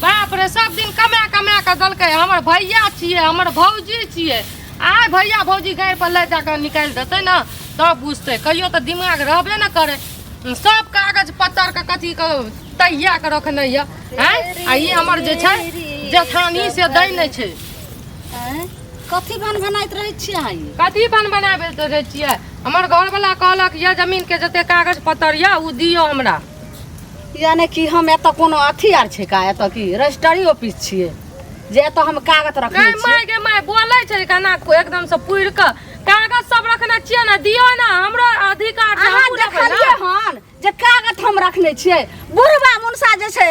बाप रे सब दिन कमा कमा के देलकै हमर भैया छियै हमर भौजी छियै आइ भैया भौजी गाड़ि पर लए जाके निकालि देतै ने तब बुझतै कहियो तऽ दिमाग रहबे ने करै सब कागज पत्तर के कथी के तहिया के रखने यऽ हैं? आ ई हमर जे छै जेठानी से दै नहि छै कथी भन भनाइत रहै छियै अहाँ ई कथी बन बनाबे रहे छियै हमर घर वाला कहलक यह जमीन के जते कागज पत्तर यऽ ओ दियौ हमरा यानी कि हम एतऽ कोनो अथी आर छै का एतऽ की रजिस्ट्री ऑफिस छियै जे एतऽ हम कागज रखने गै छियै माय गै माय बोलै छै केना को- एकदम से पुरि कऽ कागज सब रखने छियै ने दियौ ने हमरो अधिकार छै अहाँ हमहूँ लेबै ने। देखलियै हन जे कागज हम रखने छियै बुढ़बा मुनसा जे छै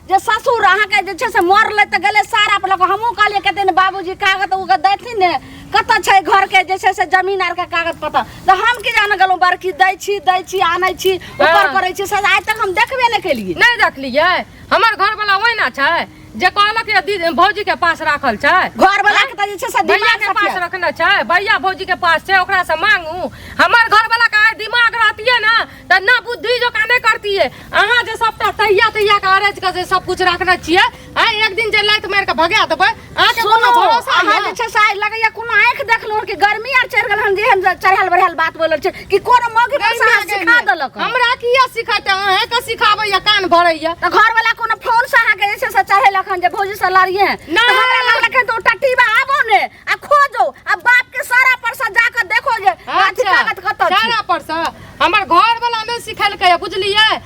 जे ससुर अहाँके जे छै से मरलै तऽ गेलै सारा पर लऽ कऽ हमहूँ कहलियै कते ने बाबूजी कागज उगज देथिन ने कतऽ छै घरके जे छै से जमीन आरके कागज पत्तर तऽ हम की जाने गेलहुँ बड़की दै छी दै छी आनै छी ऊपर हाँ। करै छी से आइ तक हम देखबे नहि केलियै नहीं देखलियै हमर घर वाला ओहिना छै जे कहलक ये दीदी भौजी के पास राखल छै घर वाला के त जे छै से भैया दिमाग के पास सटिया रखने छै भैया भौजी के पास छै ओकरा से मांगू हमर घर वाला का दिमाग रहतिए ना त ना बुद्धि जो काने करतिए अहाँ जे सबटा तहिया तहिया के अरेज के जे सब कुछ रखने छिए आ एक दिन जे लात मार के भगा देबै अहाँ के कोनो सुनो भरोसा अहाँ है जे छै से आइ लगैया कोनो आँखि देखलहुँ कि गर्मी आर चढ़ि गेल हन जेहन जे चढ़ल बढ़ल बात बोलल छै कि कोनो मौगी पर से अहाँ सिखा देलक हन। हमरा किया सिखाते अहे के सिखाबैया कान भरैया त घर वाला कोनो फोन से अहाँ के जे छै से चढ़ेलक हन जे भौजी से लड़िए त नहि। हमरा लगल के दो टट्टी बा आबो ने आ खोजो आ बाप के सारा पर से जाके देखो जे अथी अच्छा कागज कतऽ छै सारा पर से हमर घर वाला में सिखेलकै बुझलियै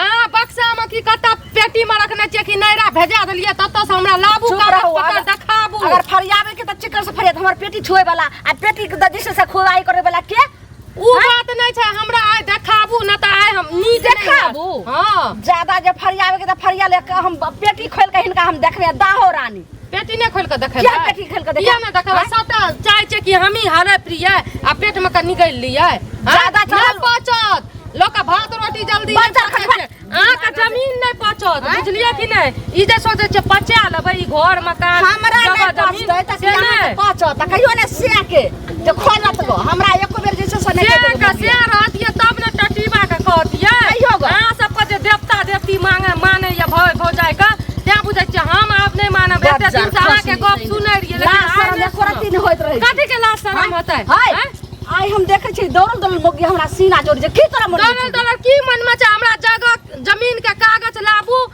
अहाँ बक्सामे की कतऽ पेटीमे रखने छियै कि नैरा भेजा देलियै ततऽसँ हमरा लाबू चुप कागज रहू, पत्तर अगर- देखाबू अगर फरियाबे के त चिक्कर से फरियात हमर पेटी छुए वाला आ पेटी के दजिश से खुदाई करे वाला के उ बात नै छै हमरा आइ देखाबू न तऽ आइ हम नीक नै देखाबू? हँ ज्यादा जे फरियाबे के त फरिया ले के हम पेटी खोल के हिनका हम देखने दाहो रानी पेटी नहि खोल के देखे क्या पेटी खोल के देखे ना देखे सटा चाय छै कि हम ही हरे प्रिय आ पेट में का निकल लिए ज्यादा चल पचत लोग भात रोटी जल्दी आ का जमीन नहीं पचत बुझलिए कि नहीं ई जे सोचे छै पचा लेबे ई घर मकान हमरा नहीं पचत त पचत कहियो ने से के जे खोलत गो हमरा एको बेर जे छै से नहि कहि देबै से रहतियै तब ने टटीबा के कहतियै कहियो गो अहाँ सबके जे देवता देवती मांगे माने या भौ भौजाई के तैं बुझै छियै हम आब नहि मानब एते दिन से अहाँके गप सुनै रहियै लेकिन लाज आइ शरम नहि एको रत्ती नहि होइत रहै छै। कथी के लाज शरम होतै हाय आँय? आइ हम देखै छी दौड़ल दौड़ल मोगी हमरा सीना जोड़ जे की तोरा मन दौड़ल दौड़ल की मन में छै हमरा जगह जमीन के कागज लाबू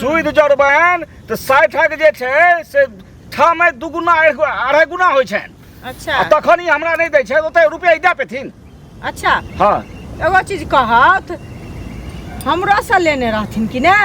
सूद जोड़बनि तऽ साठिक जे छै से ठामे दू गुना अढ़ाइ गुना होइ छनि अच्छा तखन ई हमरा नहि दै छै ओते रुपैआ ई दए पेथिन अच्छा हँ एगो चीज कहत हमरोसँ लेने रहथिन कि ने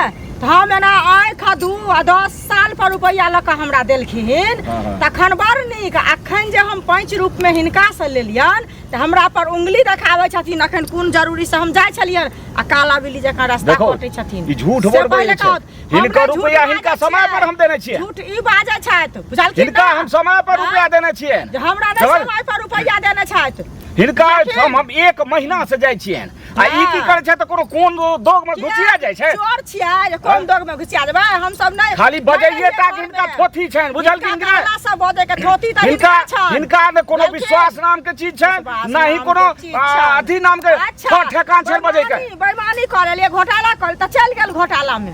तऽ हम एना आँखि आ दू आ दस साल पर रुपैआ लऽ कऽ हमरा देलखिन हँ, हँ। तखन बड़ नीक अखन जे हम पाँच रूपमे हिनकासँ लेलियनि तऽ हमरा पर उंगली देखाबै छथिन अखन कोन जरूरी से हम जाइ छलियै आ काला बिल्ली जकाँ रास्ता देखो, कटै छथिन ई झूठ से बोलबै पहिले छै। कहत, हिनकर हमरा झूठ रुपैआ बाजै हिनका छियै। समय पर हम देने छियै। झूठ ई बाजै छथि बुझलखिन हिनका ने? हम समय पर हाँ? रुपया देने छियै जे हमरा नहि समझ- समय पर रुपैआ देने छथि हिनका लेकिन- हम हम एक महीना से जाइ छियनि आ ई की करै छै तऽ कोनो कोन दोग में घुसिया जाइ छै चोर छिया जे कोन हाँ। दोग में घुसिया जेबै हम सब नै खाली बजैये ता कि इनका थोथी छैन बुझल कि इनका हमरा सब बजे के थोथी त इनका छैन इनका ने कोनो विश्वास नाम के चीज छैन ना ही कोनो अथी नाम के अच्छा। ठेकान छैन बजे के बेईमानी करे लिए घोटाला करे त चल गेल घोटाला में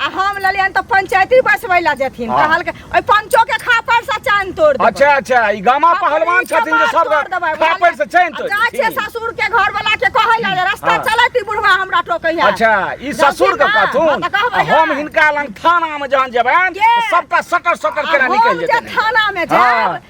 आ हम ललियन तो पंचायती बसबै ला जेथिन हाँ। कहल के ओइ पंचो के खापर से चैन तोड़ देबै अच्छा अच्छा ई गामा अपन पहलवान इच्छा छथिन जे बात सब तोड़ देबै, खापर बुझलियै? से चैन आ तोड़ जाइ छै देथिन। ससुर के घर वाला के कहै ला जे रास्ता हाँ। चलैत ई बुढ़वा हमरा टोकै है अच्छा ई जब ससुर के ना, कहथुन हाँ, तऽ कहबै आ हम ना। हिनका लग थाना में जहन जेबनि के? तऽ सबटा सटर सटर आ केना हम निकलि जे जेतनि थाना में हाँ। जायब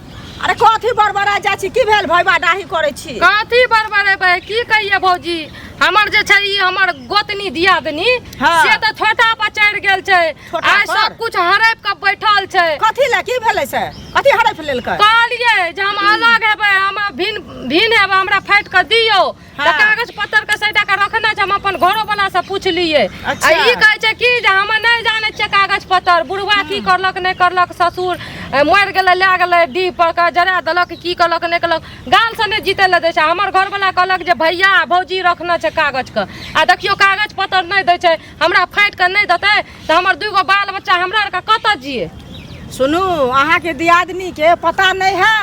अरे कथी बड़बड़ा जाइ छी की भेल भैबा डाही करै छी कथी बड़बड़ेबै की कहिए भौजी हमर जे छै ई हमर गोतनी दियादनी हाँ। से तऽ छोटा पर चढ़ि गेल छै छोटा आइ पर? सब कुछ हड़प के बैठल छै कथी लए की भेलै से कथी हड़ैप लेलकै कहलिए जे हम अलग हेबै हम भिन भिन हेबै हमरा फाटि कऽ दियौ तऽ हाँ। कागज पत्तर के सैटा के रखने छै हम अपन घरो वाला से पूछलियै आ अच्छा। ई कहै छै कि जे हम नहि जानै छियै कागज पत्तर बुढ़वा की करलक नहि करलक ससुर ए, मरि गेलै लए गेलै डीह पर के जरा देलक की करलक नहि करलक गाल से नहि जीतै लए दै छै हमर घरवला कहलक जे भैया आ भौजी रखने छै कागज के आ देखियो कागज पत्तर नहि दै छै हमरा फाटि कऽ नहि देतै तऽ हमर दूगो बाल बच्चा हमरा आरके कतऽ जियै सुनू अहाँके दियादनीके पता नहि है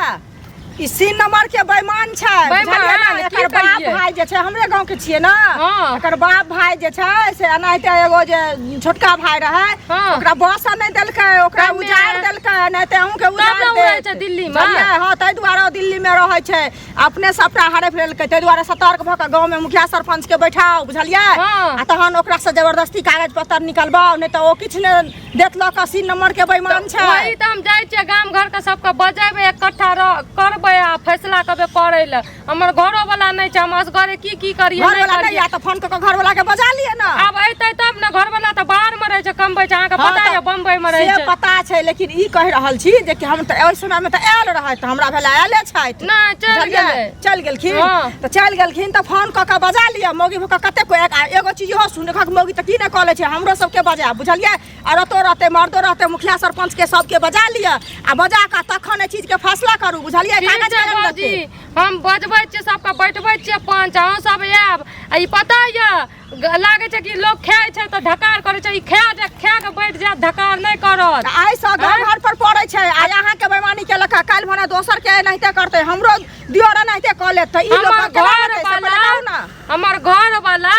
ई सीन नंबर के बेईमान छै बेईमान, बुझलियै ने? की एकर बाप कहियै? भाई जे छै हमरे गांव के छियै ने हँ। एकर बाप भाई जे छै से एनाहिते एगो जे छोटका भाई रहे हँ। ओकरा बस नहि देलकै ओकरा तब ने। उजाड़ देलकै नहि ते अहूं के तब उजाड़ ने ओ रहै देत। छै दिल्ली मे। बुझलियै? हँ ताहि दुआरे ओ दिल्ली मे रहै छै अपने सबटा हरे लेलकै ताहि दुआरे सतर्क भऽ कऽ गांव मे मुखिया सरपंच के बैठाउ बुझलियै हँ। आ तहन ओकरा से जबरदस्ती कागज पत्तर निकलबाउ नहि तऽ ओ किछु नहि देखलक अस्सी नंबर के बेईमान छै वही तऽ हम जाइ छियै गाम घर के सबके बजेबै इकट्ठा रह- करबै आ फैसला करबै पड़ै लए हमर घरो वाला नहि छै हम असगरे की की करियै घर नहि वाला नहि करियै या तऽ फोन कऽ के घर वाला के बजा लिए ना आब अयतै तब ने घर वाला तऽ बाहर मे रहै छै कमबै छै अहाँके हाँ, पता तऽ यऽ बम्बई मे रहै से छै पता छै लेकिन ई कहि रहल छी जे कि हम तऽ ओहि समय मे तऽ आयल रहै तऽ हमरा भेल आयले छथि नहि चलि बुझलियै? गेलै चलि गेलखिन हाँ। तऽ चलि गेलखिन तऽ फोन कऽ कऽ बजा लिअ मौगी भऽ कऽ कते कोइ आ एगो चीज इहो सुन रखक मौगी तऽ की नहि कऽ लै छै हमरो सबके बजा बुझलियै औरतो रहतै मर्दो रहतै मुखिया सरपंचके सबके बजा लिअ आ बजा कऽ तखन एहि चीजके फैसला करू बुझलियै ठीक कागज छै कलम बाबूजी लगतै। हम बजबै छियै सबके बैठबै छियै पंच अहूँ सब आयब आ ई पता यऽ लागे छै कि लोग खाय छै तऽ ढकार करे छै ई खा जा खा के बैठ जा ढकार नहीं करत आई से गांव घर पर पड़े छै आ यहां के बेमानी के लखा काल भने दोसर के नहिते करते हमरो दियोरा नहिते क ले त ई लोग हमर के घर लगते से वाला बताउ ना हमर घर वाला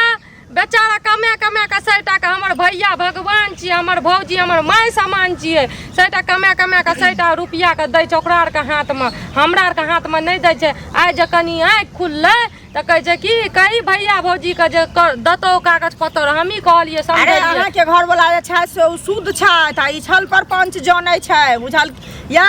बेचारा कमे कमे के सैटा के हमर भैया भगवान छियै हमर भौजी हमर माय समान छियै सैटा कमे कमे के सैटा रुपया के दै छै ओकरा आर के हाथ में हमरा आर के हाथ में नहीं दै छै आइ जे कनी आँखि खुललै तऽ कहै छै कि कही भैया भौजी के जे दतो कागज पत्तर हमही कहलिए अरे अहाँ के घर वाला जे छै से ओ शुद्ध छै आ ई छल पर पंच जानै छै बुझल या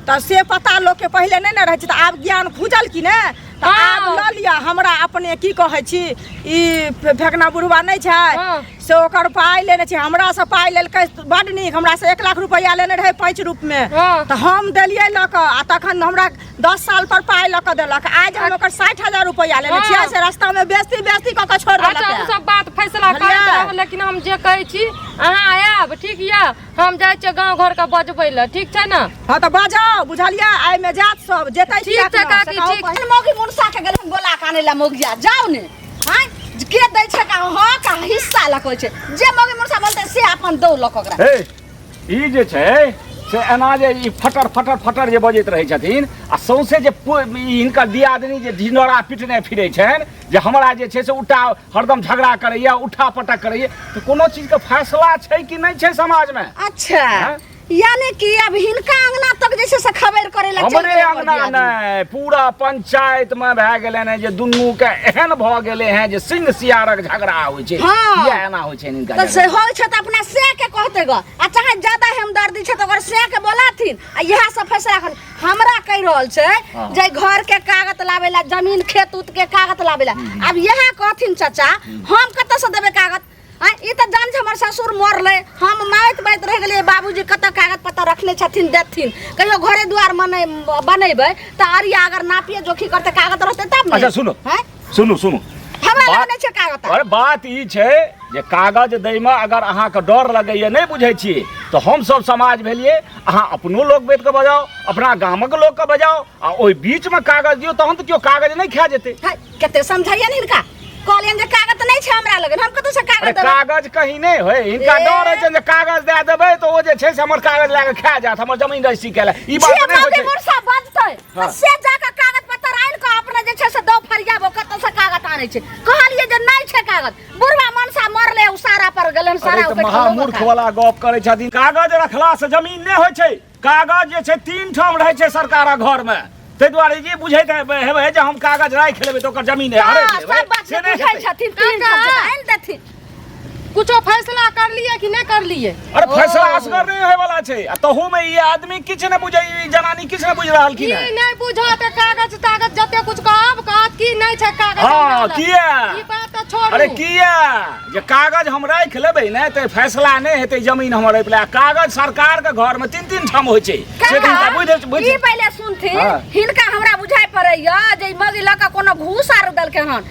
तऽ से पता लोक के पहिले नै ने रहै छै तऽ आब ज्ञान खुजल कि ने तऽ हाँ। आब ल लिअ हमरा अपने की कहै छी ई फेकना बुढ़वा नै छै हाँ। से ओकर पाइ लेने छी हमरा से पाइ लेलकै बड नीक हमरा से एक लाख रुपैआ लेने रहै पाँच रूप में हाँ। तऽ हम देलियै लऽ कऽ आ तखन हमरा दस साल पर पाय लऽ कऽ देलक आज हम ओकर साठि हजार रुपैआ लेने छियै से रास्ता में बेचती बेचती कऽ के छोड़ अच्छा देलक हम है। सब बात फैसला करैत बुझलियै? रहब लेकिन हम जे कहै छी अहाँ आयब ठीक यऽ हम जाइ छियै गाँव घरके बजबै लए ठीक छै ने हाँ तो बाजो बुझलियै आइ में जात सब जेतै ठीक किएक छै नहि, काकी, से कहू ठीक। पहिने। मौगी मुनसा के गेलखिन बोला के आनै ला मौगिया जाओ ने हाय के दै छै का हँ का हिस्सा लकल छै जे मौगी मुनसा बोलतै से अपन दौ लक ओकरा ए ई जे छै से एना जे ई फटर फटर फटर जे बजैत रहै छथिन आ सौंसे जे पु- ई हिनकर दियादनी जे ढिंडोरा पिटने फिरै छनि जे हमरा जे छै से उठा हरदम झगड़ा करैए उठा पटक करैए तऽ कोनो चीजके फैसला छै कि नहि छै समाजमे अच्छा हाँ? यानी कि अब हिनका अंगना तक जे छै से खबर करे ला चलि हमरे गेल हमर अंगना दियादनी। नहि पूरा पंचायत में भए गेलै ने जे दुनू के एहन भऽ गेलै हैं जे सिंह सियारक झगड़ा होइ छै हाँ। किया एना होइ छै इनका तऽ से जगह? होइ छै तऽ अपना से के कहते ग आ चाहे ज्यादा हमदर्दी छै तऽ ओकर से के बोलाथिन आ इएह सब फैसला कर हमरा कहि रहल छै हाँ। जे घर के कागज लाबे ला जमीन खेत उत के कागज लाबे ला अब इएह कहथिन चाचा हम कतऽ से देबै कागज आ ई तऽ जान छै हमर ससुर मरलै हम माइत बाइत रहि गेलियै बाबूजी कतऽ कागज पत्तर रखने छथिन देथिन कहियो घरे दुआर मने बनेबै तऽ अरिया अगर नापिए जोखी करतै कागज रहतै तब ने अच्छा, सुनो। हैं? सुनू सुनू हमरा बात- लगने छै कागज अरे बात ई छै जे कागज दैमे अगर अहाँके डर लगैए नहि बुझै छी तऽ हमसभ समाज भेलिए अहाँ अपनो लोक बैठ कऽ बजाउ अपना गामक लोकके बजाउ आ ओहि बीचमे कागज दियौ तहन तऽ केओ कागज नहि खा जेतै है, कते समझाइए ने हिनका कहलियन जे कागज तऽ नहि छै हमरा लगन हम कतौ से अरे कागज देबै कागज कहीं नहि होय हिनका ए। डर होइ छनि जे कागज दए देबै तऽ ओ जे छै से हमर कागज लए कऽ खा जायत हमर जमीन रजिस्ट्री कए लए ई बात जे नहि होइ मौके छै मुरसा बजतै हाँ। से जाके कागज पत्तर आयल के अपने जे छै से दो फरिया वो कत से कागज आनै छै कहलिए जे नै छै कागज बुढ़वा मनसा मरले उ सारा पर गेलन सारा अरे तऽ ओकर महामूर्ख खलोगा वाला गप करै छथिन कागज रखला से जमीन नहि होइ छै कागज जे छै तीन ठाम रहै छै सरकारक घर मे ताहि दुआरे जे बुझैत हेबै हेबै जे हम कागज राखि लेबै तऽ ओकर जमीन है हड़पि लेबै सब बात से नहि बुझै हेतै। छथिन तीन सब आनि देथिन कुछो फैसला कर लिए कि नहीं कर लिए अरे फैसला असगर नहीं होय वाला छै आ तहू में ई आदमी किछ ने बुझै ई जनानी किछ ने बुझ रहल की की ने नहीं बुझो ते कागज तागज जते कुछ कहब कहत की नहीं छै कागज हां हमरा लग। किया ई बात तो छोड़ू अरे किया जे कागज हम राख लेबै ने ते फैसला नहि हेतै जमीन हमर एहि पर कागज सरकार के घर में तीन तीन ठाम होइ छै से दिन का बुझ बुझ ई पहिले सुनथिन हाँ। हिनका हमरा बुझाइ पड़ैया जे ई मगी लऽ कऽ कोनो घूस आर देलकै हन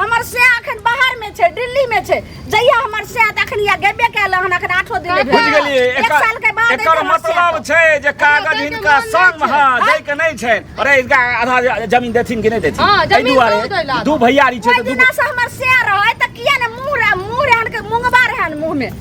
हमर से अखन बाहर में छै दिल्ली में छै जहिया हमर से अखन या गेबे कैल हन अखन आठो दिन बुझ भेल गेलिए एक एकर साल के बाद एकर हमर से मतलब आएत। छै जे कागज दैके हिनका मन संग नहि हां छै। दै के नहीं छै अरे इनका आधा जमीन देथिन कि नहीं देथिन हाँ, एहि जमीन दुआरे दूध अइला। दू भैयारी छै ओहि तऽ दू दिना से हमर से रहै तऽ किया ने मुंह रह मुंह रहन के मुंगबा रहन मुंह में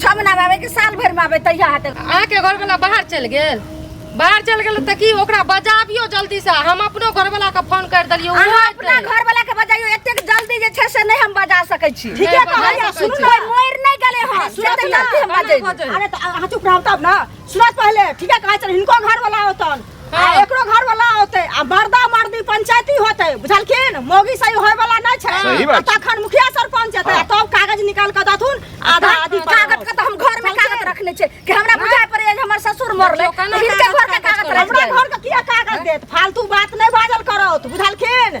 छह महीना में आवे कि साल भर में आवे तहिया हटे अहाँके घरवला बाहर चलि गेल बाहर चलि गेल तऽ की ओकरा बजाबियो जल्दी से हम अपनो घरवला के फोन कर देलियै ओहो अहाँ अपना एतै। घर वाला के बजाइयो एतेक जल्दी जे छै से नहीं हम बजा सकै छी ठीके नहि कहलियै, बजा सकै सुनू छी। ने मोर नहीं गले हन सुनू जते ने, जल्दी हम अहाँ बजै छी। बजै। अरे तो अहाँ चुप रहब तब ना सुनत पहले ठीके कहै छन हिनको घर वाला होतन आ हाँ। एकरो घर वाला होते आ बर्दा मर्दी पंचायती होते बुझलखिन मोगी सही होय वाला नहीं छै सही बात आ तखन मुखिया सरपंच हेतै आ हाँ। तब कागज निकाल के दथुन आधा आधी पर कागज के त हम घर में कागज रखने छै कि हमरा बुझाय पड़े जे हमर ससुर मरले केना हिनके कागज घर के कागज कागज हमरा रखने घर के किया कागज देत फालतू बात नहीं बाजल करत बुझलखिन